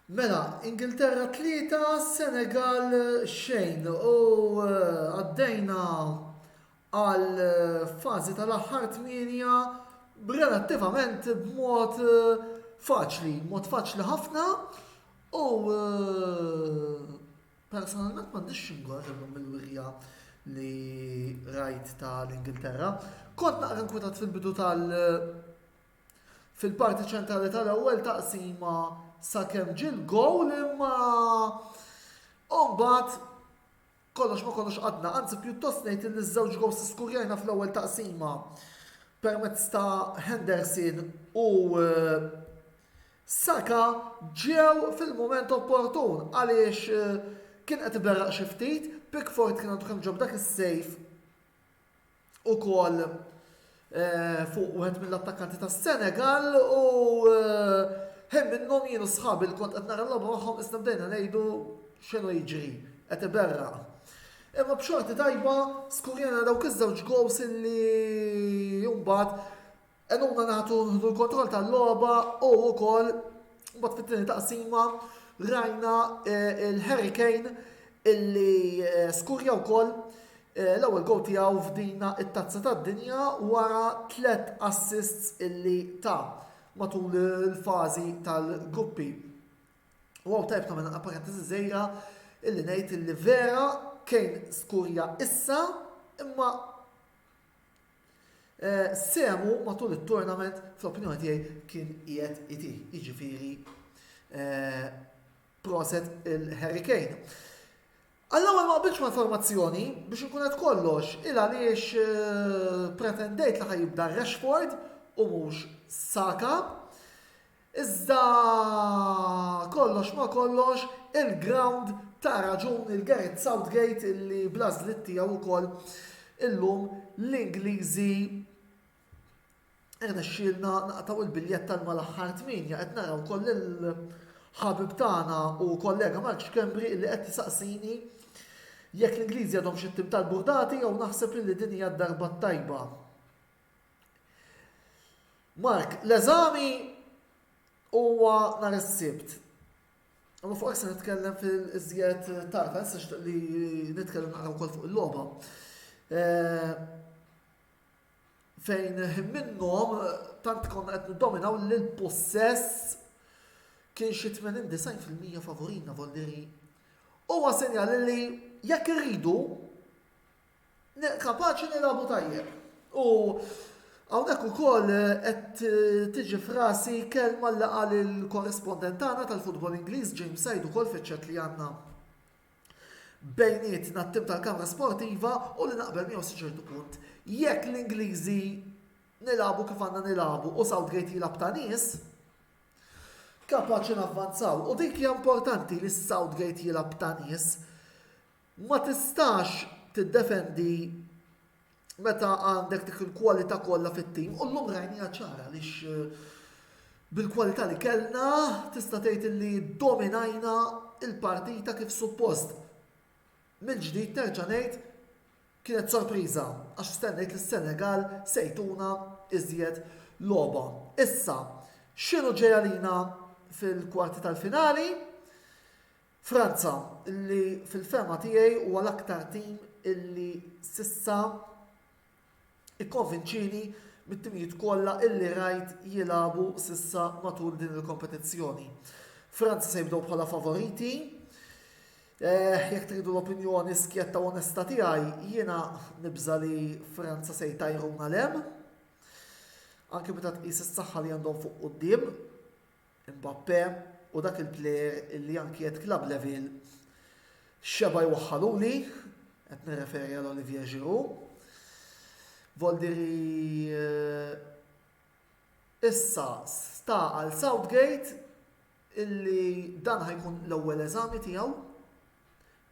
Mela, Ingilterra tlieta, Senegal xejn u eh, għaddejna għal eh, fażi tal-aħħar tmienja relattivament b'mod eh, faċli, mod faċli ħafna u Personalment m'għandix x'ingoħġ illum mill-wirja li rajt ta' l-Ingilterra. Kont naqra nkwitat fil-bidu tal- fil-parti ċentrali tal-ewwel taqsima sakemm ġie l-gowl imma u mbagħad kollox ma kollox qadna, anzi pjuttost ngħid li ż-żewġ gows skurjajna fl-ewwel taqsima permezz ta' Henderson u eh, Saka ġew fil-mument opportun għaliex kien qed iberraq xi ftit, Pickford kien għadu kemm ġab dak is-save ukoll fuq wieħed mill-attakkanti tas-Senegal u ħin minnhom jien u sħabi li kont qed nara l-logħba magħhom isna bdejna ngħidu x'inhu jiġri, qed iberraq. Imma b'xorti tajba skurjana dawk iż-żewġ goals illi mbagħad Għenuna nagħtu nieħdu l-kontroll tal-logħba u wkoll mbagħad fit-tieni taqsima rajna l-Harry Kane illi skurja wkoll l-ewwel gowl tiegħu f'dina t-Tazza tad-Dinja wara tliet assists illi ta matul il-fażi tal-gruppi. U għaw tajb nagħmel naqra parentesi żgħira illi ngħid illi vera Kane skurja issa imma sehmu matul it-tournament fl-opinjoni tiegħi kien qiegħed itih, jiġifieri proset il-Harry Kane. Għall-ewwel ma qbilx mal-formazzjoni biex ikun qed kollox il għaliex eh, pretendejt li ħajibda Rashford u mhux Saka. Iżda kollox ma' kollox, il-grawnd ta raġun lil Gareth Southgate illi bl-għażliet tiegħu wkoll illum l-Ingliżi irnexxielna naqtgħu il-biljett għal mal-aħħar tmienja. Qed nara wkoll lill-ħabib tagħna u kollega Mark Schembri illi qed isaqsini jekk l-Ingliżi għadhomx it-tim tal-burdati jew naħseb li din hija d-darba t-tajba. Mark, l-eżami huwa nhar is-Sibt. U fuq se nitkellem fil-iżjed tard, għal se li nitkellem naqra wkoll fuq il-logħba. Eh, fejn minnhom tant konna qed niddominaw li l-possess kien xi 89% favorina Volleri. Huwa sinjal li jekk irridu Kapaċi nilagħbu tajjeb. U hawnhekk ukoll qed tiġi f'rasi kelma li qal il-korrespondent tagħna tal-futbol Ingliż James Said ukoll fiċ-chat li għandna bejnietna t-tim tal-Kamra Sportiva u li naqbel miegħu sa ċertu punt. Jekk l-Ingliżi nilagħbu kif għandna nilagħbu u Southgate jilgħab ta' nies, kapaċi navvanzaw. U dik hija importanti li Southgate jilgħab ta' nies. Ma tistax tiddefendi meta għandek dik il-kwalità kollha fit-tim u llum rajniha ċara għaliex bil-kwalità li kellna tista' tgħid li ddominajna l-partita kif suppost. Mill-ġdid nerġa' ngħid kienet sorpriża għax stennejt li s-Senegal se jtuna iżjed logħba. Issa, x'inhu ġej għalina fil-kwarti tal-finali? Franza, li fil-fehma tiegħi huwa l-aktar tim illi s'issa ikkonvinċieni mit-timijiet kollha illi rajt jilagħbu s'issa matul din il-kompetizzjoni. Franza se jibdew bħala favoriti. Eh, jekk tridu l-opinjoni skjetta u onesta tiegħi, jiena nibża li Franza se jtajruna lem. Anke meta tqis is-saħħa li għandhom fuq quddiem, Mbappe hu dak il-plejer illi anki at club level xeba' jwaħħal u li, qed nirreferi għal Olivier Giroud. Voldiri issa sta għal Southgate illi dan ħa jkun l-ewwel eżami tiegħu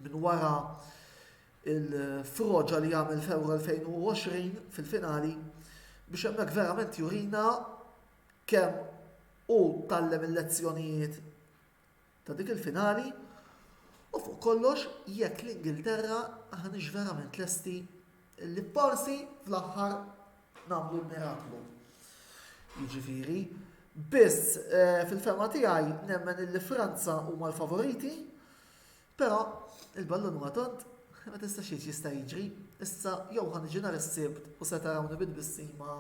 minn wara il-froġa li għamel f'Euro 2020 fil-finali biex hemmhekk verament jurina kemm hu tgħallem il-lezzjonijiet ta' dik il-finali u fuq kollox jekk l-Ingilterra aħniex verament lesti li forsi fl-aħħar nagħmlu l-miraklu. Jiġifieri, biss eh, fil-fema tiegħi nemmen li Franza huma l-favoriti, però il-ballun huwa tont ma tistax jista' jiġri, issa jew ħan ġinar is-sibt u se tarawni bid bissima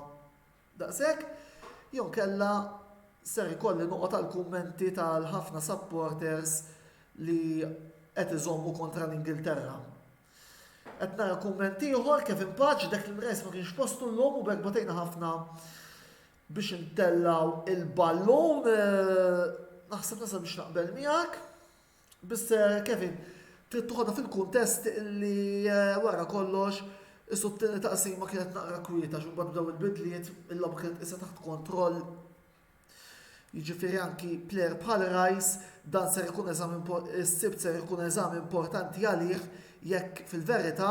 Daqshekk, jew inkella ser ikolli noqgħod għall-kummenti tal-ħafna supporters li qed iżommu kontra l-Ingilterra. Qed nara kumment ieħor kif impaġġ dak li mrejs ma kienx postu llum u bekk batejna ħafna biex intellaw il-ballun eh, naħseb nasa biex naqbel miegħek. Biss eh, Kevin, trid toħodha fil-kuntest li eh, wara kollox isu t-tieni taqsima kienet naqra kwieta xi mbagħad bdew il-bidliet il-logħba kienet issa taħt kontroll. Jiġifieri anki player bħal Rajs dan ser ikun eżam is-sibt ser ikun eżam importanti għalih jekk fil-verità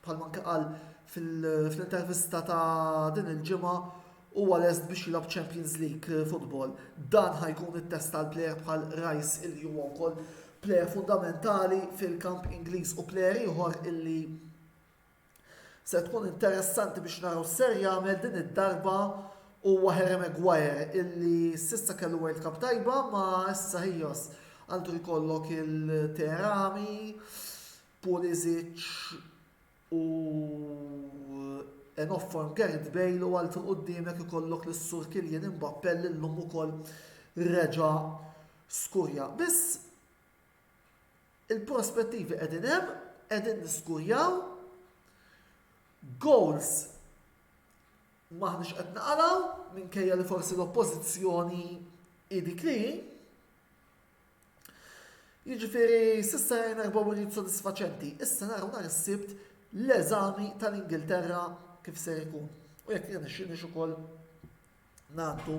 Bħalma anke qal fl-intervista ta' din il-ġimgħa huwa lest biex jilgħab Champions League football. Dan ħajkun it-test għal plejer bħal Rice illi huwa wkoll plejer fundamentali fil-kamp Ingliż u plejer ieħor illi se tkun interessanti biex naraw ser jagħmel din id-darba u Harry Maguire illi sissa kellu World Cup tajba ma issa ħijos għandu jkollok il-terami Pulisic u in off form Gareth Bale u għalf 'il quddiemek ikollok lis-Sur Kylian Mbappe li llum ukoll reġa' skurja. Biss il-prospettivi qegħdin hemm, qegħdin niskurjaw, goals m'aħniex qed naqraw minkejja li forsi l-oppożizzjoni hi dik li hi. Jiġifieri s'issa rajna erba' wiriet sodisfaċenti, issa naraw nhar is-Sibt l-eżami tal-Ingilterra kif ser ikun u jekk jirnexxinix ukoll ngħaddu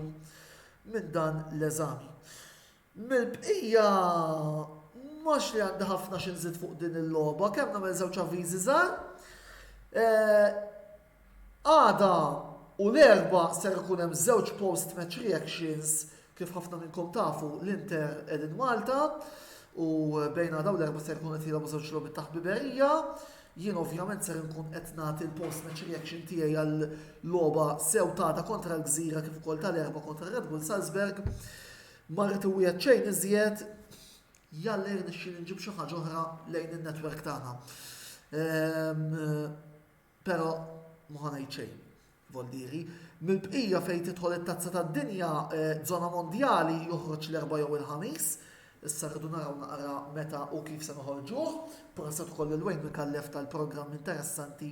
minn dan l-eżami. Mill-bqija mhux li għandi ħafna xi nżid fuq din il-logħba, kemm nagħmel żewġ avviżi żgħar. Eh, Għada u l-Erbgħa ser ikun hemm żewġ post match reactions kif ħafna minnkom tafu l-Inter qegħdin Malta u bejn għada u l-Erbgħa ser ikun qed jilgħabu żewġ logħbiet ta' ħbiberija. Jien ovvjament ser nkun qed nagħti l-post match reaction tiegħi għal logħba sew tagħda kontra l-Gżira kif ukoll tal-Erbgħa kontra Red Bull Salzburg. Marret u wieħed xejn iżjed jalla jirnexxi nġib xi ħaġa oħra lejn in-netwerk tagħna. Ehm, Pero ma ħa ngħid xejn, voldieri. Mill-bqija fejn tidħol it-Tazza tad-Dinja, żona mondjali joħroġ l-Erbgħa jew il-Ħamis. Issa rridu naraw naqra meta u kif se noħorġuh. Proset ukoll lil Wayne Mikallef tal-programm interessanti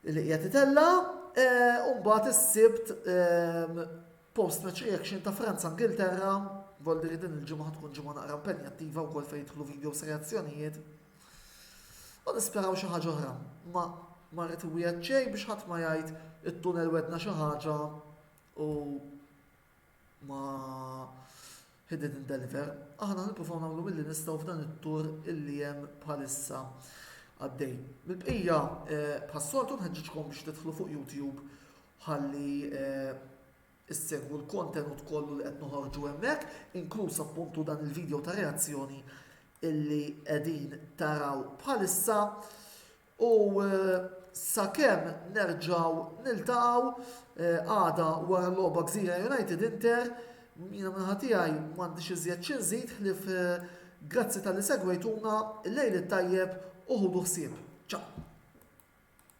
li qiegħed itella. U mbagħad is-Sibt post-match reaction ta' Franza Ingilterra, voldieri din il-ġimgħa tkun ġimgħa naqra impenjattiva wkoll fejn jidħlu videos reazzjonijiet. Ma nisperaw xi ħaġa oħra. Ma ma rrid inwiegħed xejn biex ħadd ma jgħid it-tunel wegħdna xi ħaġa u ma he didn't deliver. Aħna nippruvaw nagħmlu milli nistgħu f'dan it-tur illi hemm bħalissa għaddej. Bil-bqija eh, bħas-soltu nħeġġiġkom biex tidħlu fuq YouTube ħalli eh, Issegwu l-kontenut kollu li qed noħorġu hemmhekk, inkluż appuntu dan il-video ta' reazzjoni illi qegħdin taraw bħalissa u eh, sakemm nerġgħu niltaqgħu eh, għada wara l-logħba Gżira United Inter jiena minn ħatijaj m'għandix iżjed xi nżid ħlief eh, grazzi tal-li segwejtuna, lejl it-tajjeb u ħudu ħsieb. Ciao!